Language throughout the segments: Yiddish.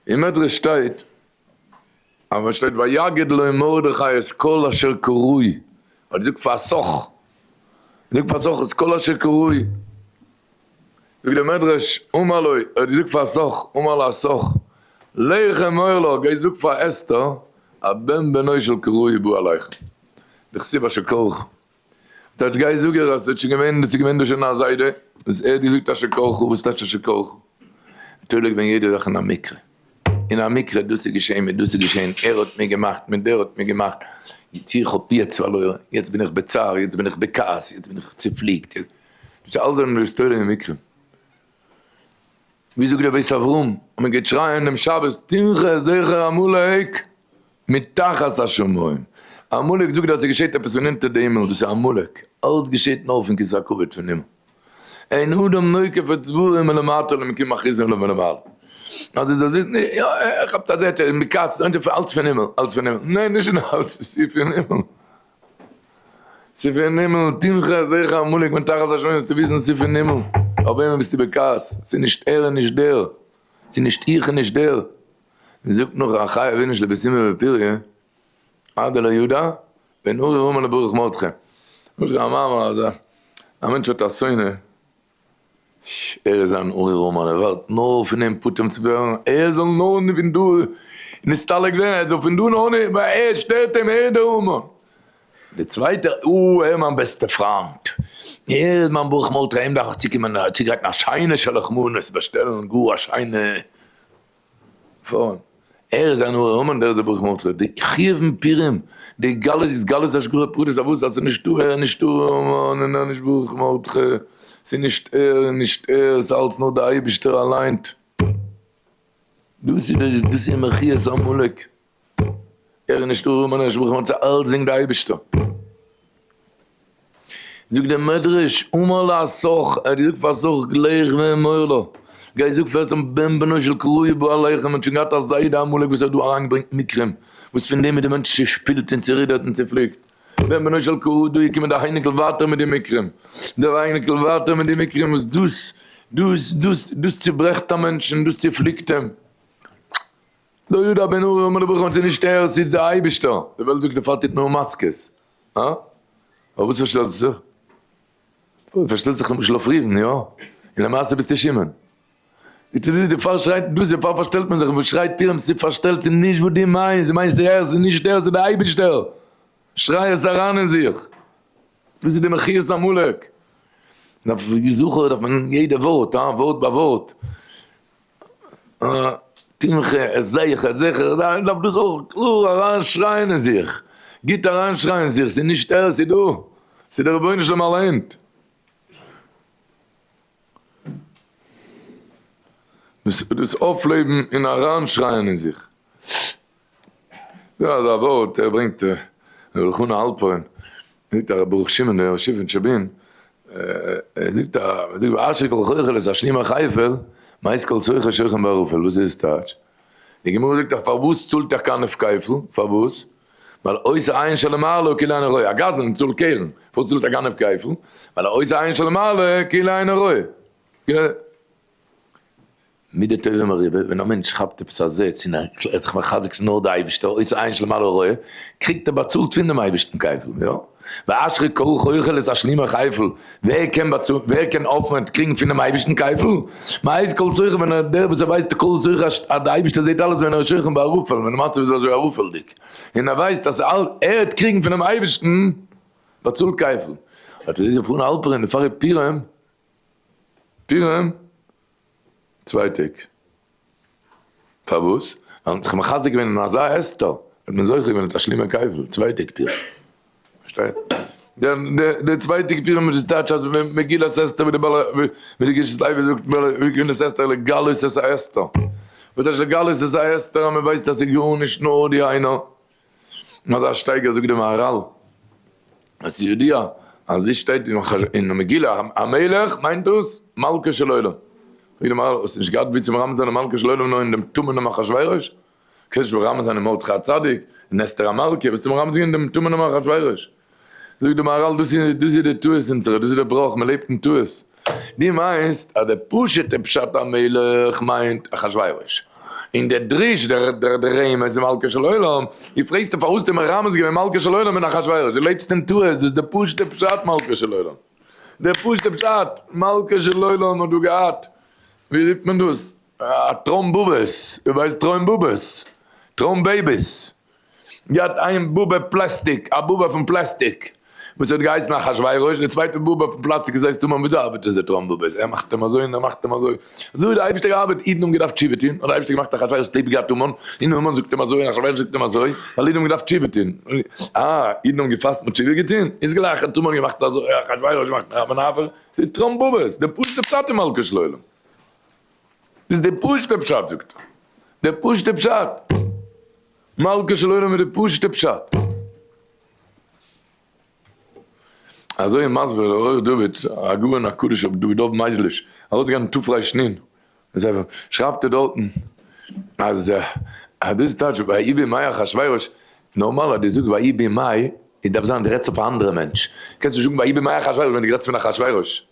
אין מדרש שטייט אז ווען שטייט ויגד לו מרדכי את כל אשר קרוי האט ער געזאגט פאר סח ער זאגט פאר סח את כל אשר קרוי זאגט די מדרש אמר לו ער האט געזאגט פאר סח אמר לה סח לך אמור לו גיי זאג פאר אסתר הבן בנו של קרוי בא אליך דכסיב אשר קרוך. ס'טייטש גיי זאג ער אז ס'האט שוין געווען ס'איז געווען דא שוין א זיידע וואס ער האט געזאגט אשר כל חו וואס טייטש אשר כל חו? מ'טאר לעגבן יעדע זאך אין א מקרה אין א מקרה דאס איז געשעהן מיט דאס איז געשעהן ער האט מיר געמאכט מיט דער האט מיר געמאכט יצ איך האב יעצט פארלוירן יעצט בין איך בצער יעצט בין איך בכעס יעצט בין איך צופליקט דאס איז אלעס זענען היסטוריה און מקרים. ווי זאגט דער בית אברהם האט מען געטשרייען דעם שבת תנחה זכר עמלק מתחת השמים, עמלק זאגט אז עס געשעט עפעס פון אונטער די הימל, וואס איז עמלק? אלץ געשעט נאר פון כסא הכבוד פון הימל, אין אדם נוקף את זבולו מלמטה למקום אחיזתו מלמעלה, אז דו זאלסט וויסן, יא ער כאפט א זעצער אין מקץ, אלץ פון הימל, אלץ פון הימל, ניין נישט אלץ, עס איז פון הימל. ס'איז פון הימל, תמחה אזעיך עמלק מן תחת השמים זאלסטו וויסן ס'איז פון הימל, אויף וועמען ביסטו בכעס? ס'איז נישט ער און נישט דער, ס'איז נישט איך און נישט דער, און זאגט נאך א חיה ווי נישט לביסימא ופיריה, עד דלא ידע, ואין אורי רומא לברוך מרדכי. א מעשה, א מענטש האט א שונא, ש. ער איז אן אור און מען ערווארט נאר פון אים פטור צו ווערן, ער זאל נאר פון דא נסתלק ווערן, ער זאל פון דא נאר נישט ווייל ער שטערט אים, ער איז דער המון. דער צווייטער, או, ער איז מיין בעסטער פריינט, ער איז מיין ברוך מרדכי, אים דארף איך צוקומען צוגרייטן א שיינע שלח מנות, באשטעלן גאר א שיינע פארן, ער איז אן אור המן דער זבח מלכות, די חיובים פירים, די גלות איז גלות השגחה פרטית, אוואו ס'איז אלס נישטא ער, נישטא המן, און נישט ברוך מרדכי, ס'איז נישט ער און נישט ער, ס'איז אלס נאר דער אייבערשטער אליינט, דאס איז דאס איז מחיית עמלק. ער איז נישט ארום און ער איז נישט בחור מצה אלץ דינגט די אייבישטער זאגט די מדרש אמר לה סח ער האט געזאגט פאר סח גלח ואמר לה גיי זאג פאר עשו בן בנו של קרויע בא אליכם ער האט שוין געהאט א זיידע אמאליג וואס האט דא אריין געברענגט מקרים וואס פון דעם איז די מענטש צושפילט און צורידערט און צופליקט בן בנו של קרויע דא איז געקומען די אייניקל ווייטער מיט די מקרים די אייניקל ווייטער מיט די מקרים וואס דאס דאס דאס דאס צוברעכט א מענטש און דאס צופליקט אים. לא יודע בין אורי אומר לברכו ס'איז נישט ער ס'איז די אייבישטער, די וועלט זאגט דערפאר טוט מען אן מאסקעס, אה? פארוואס פארשטעלסטו זיך? פארשטעלסט זיך למשל אויף רופן, יא? און למעשה ביסטו שמעון? די טו די דערפאר שרייט דאס דערפאר פארשטעלט מען זיך וואס שרייט פירם ס'פארשטעלט ס'איז נישט וואס דו מיינסט דו מיינסט ס'איז ער ס'איז נישט ער ס'איז די אייבישטער שריי עס אריין אין זיך דאס איז די מחיית עמלק דארף זוכער דארף מען יעדע ווארט אה ווארט ביי ווארט. תמחה, איך זעה איך זעה איך דארף דאס אויך קלאר אריין שרייען אין זיך, גוט אריין שרייען אין זיך, ס'איז נישט ער ס'איז דו, ס'איז דער רבונו של עולם אליין. דאס אויפלעבן און אריין שרייען אין זיך. יא אזא ווארט ער ברענגט ר' חנא האלפרין זאגט א ר' ברוך שמעון דער ראשי פון טשעבין ער זאגט א מען זאגט ואשר כל חוכא לס השלים א חייפעל מייסט כל סוחר שוכן בערפל וואס איז טייטש? די גמרא זאגט אז פארוואס צאלט ער קיין אפקייפל פארוואס? ווייל עושה עין של מעלה כאילו אינו רואה א גזלן צאלט קרן פארוואס צאלט ער קיין אפקייפל? ווייל עושה עין של מעלה כאילו אינו רואה. מידי טובים אריבער, ווען א מענטש כאפט עפעס א זעץ און ער קלערט זיך מחזק ס'איז נאר די אייבערשטער אויסער עיין של מעלה רעה, קריגט ער באצאלט פונעם אייבערשטן כפל, יא? ואשרי כל חוחל את השלימה כפל, ווער קען באצאלן, ווער קען אויפהערן צו קריגן פונעם אייבערשטן כפל? מ'הייסט כל זכר ווען ער, דער וואס ער ווייסט איז כל זכר אז די אייבערשטער זעט אלעס ווען ער איז שוכן בערפל, ווען די מצב איז אזוי ערפלדיג, און ער ווייסט אז ער הערט קריגן פונעם אייבערשטן, באצאלט כפל. אט איז ער געפארן אלפערין, און פאר ר' פירעם, פירעם? צוויי טעג. פארוואס? ווייל מען האט זיך מחזק געווען אין אזא אסתר, האט מען זוכה געווען מיט א שלימער קייפל, צוויי טעג פורים. פארשטייט? די צוויי טעג פורים איז טייטש אז מגילת אסתר ווי די גשת לוי זאגט מגילת אסתר לגלות את האסתר. וואס טייטש לגלות את האסתר אז מען ווייסט אז ס'איז גארנישט נאר די איינער. און אזא שטייגער זאגט די מהרל אז ס'איז ידוע אז ווי שטייט אין מגילה המלך מיינט דאס מלכו של עולם, פרעגט די מהרל האסט נישט געהאט ווי צו מרמז זיין די מלכו של עולם נאר אין דעם טמא'נעם אחשורוש? קענסט נישט מרמז זיין אין מרדכי הצדיק, אין אסתר המלכה, וועסטו מרמז זיין אין דעם טמא'נעם אחשורוש? זאגט די מהרל דאס איז דאס איז די טעות אונזערע דאס איז די בראך מען לעבט אין טעות, דו מיינסט אז די פשוטע פשט המלך מיינט אחשורוש, און די דרוש דער דער דער רמז איז מלכה של עולם, דו פרעגסט פארוואס האסטו מרמז געווען מלכה של עולם און אחשורוש, דו לעבסט אין טעות, דאס איז די פשוטע פשט מלכה של עולם, די פשוטע פשט מלכה של עולם האט דא געהאט ווי רופט מען דאס א טראמבובעס, ווער ווייסט טרוימבובעס, טראמבעיביס. געהאט איין באבע פלעסטיק, א באבע פון פלעסטיק, וואס האט געהייסן אחשורוש, די צווייטע באבע פון פלאסטיק איז זייסט המן, וויאזוי ארבעט עס די טראמפ באבעס, ער מאכט אים אזוי און ער מאכט אים אזוי, אזוי האט דער אייבערשטער געארבעט, אידן האבן געדארפט תשובה טון, האט דער אייבערשטער געמאכט אחשורוש ליב געהאט המן, און המן זאגט אים אזוי און אחשורוש זאגט אים אזוי, ווייל אידן האבן געדארפט תשובה טון, אה, אידן האבן געפאסט און תשובה געטון, איז גלייך האט המן געמאכט אזוי, אחשורוש מאכט נאכאמאל אזוי, ס'איז טראמפ באבעס, די פשוט'ע פשט אין מלכות של עולם. איז די פשוטע פשט זאגט ער, די פשוטע פשט, מלכה של עולם איז די פשוטע פשט. אזוי איז מסביר דער עורך דוד, הגאון הקדוש רבי דוד דוב מייזליש, ארויסגעגאנגען תפ ר שני אין זיין ספר, שרייבט ער דארטן אז אז דאס טייטש ויהי בימי אחשורוש, נארמאל אז דו זאגסט ויהי בימי, דארף זיין דו רעדסט אויף א אנדערע מענטש, קענסט נישט זאגן ויהי בימי אחשורוש ווען דו רעדסט פון אחשורוש.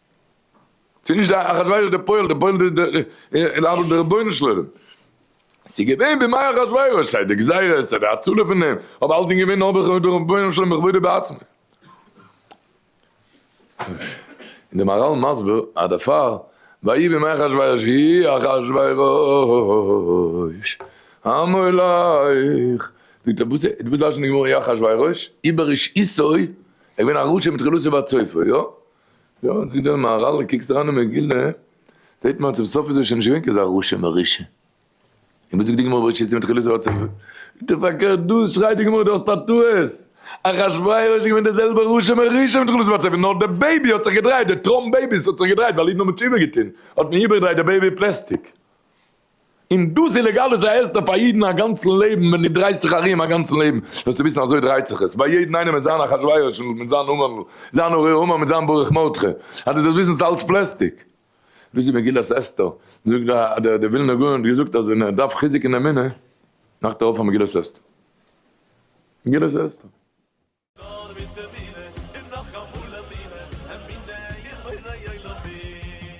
ס'איז נישט דער אחשורוש דער פועל, דער פועל איז דער אבל דער רבונו של עולם. ס'איז געווען בימי אחשורוש סיי די גזירות סיי די הצלה פון אים, אבער אלץ איז געווען נאר בכבוד דער רבונו של עולם בכבודו בעצמו. און דער מהרל מסביר אז דערפאר ויהי בימי אחשורוש הי אחשורוש המולך, זאגט ער וואס וואס דרש'נט די גמרא הי אחשורוש? איבער רשעותו, ער איז געווען א רשע מתחילתו ועד סופו, יא? יא עס איז געווען מהרלע קוקסט אריין אין מגילה זעהט מען אז צום סוף איז ער שוין נישט געווען כזה רשע מרושע און וואס זאגט די גמרא בראשית סימן תחילת אות סוף איז דאך פארקערט דא שרייט די גמרא דו האסט א טעות אחשורוש איז געווען די זעלבע רשע מרושע מיט תחילת אות סוף נאר די בעיבי האט זיך געדרייט די טראמפ בעיבי האט זיך געדרייט ווייל אידן האבן תשובה געטוהן האט מען איבערגעדרייט די בעיבי פלעסטיק און דאס איז לעגאל איז א הסדר פאר אידן א גאנצן לעבן ווען דו דרייסט זיך ארום א גאנצן לעבן זאלסטו וויסן אזוי דרייט זיך עס ביי יעדן איינעם מיט זיין אחשורוש מיט זיין המן מיט זיין ארור המן מיט זיין ברוך מרדכי אז דו זאלסט וויסן ס'איז אלץ פלעסטיק. וויאזוי מגילת אסתר זאגט דער דער ווילנער גאון האט געזאגט אז ווען ער דארף חיזוק אין אמונה מאכט ער אויף א מגילת אסתר מגילת אסתר. נאר מיט אמונה און נאך אמאל אמונה, אמונה אין בורא עולמים.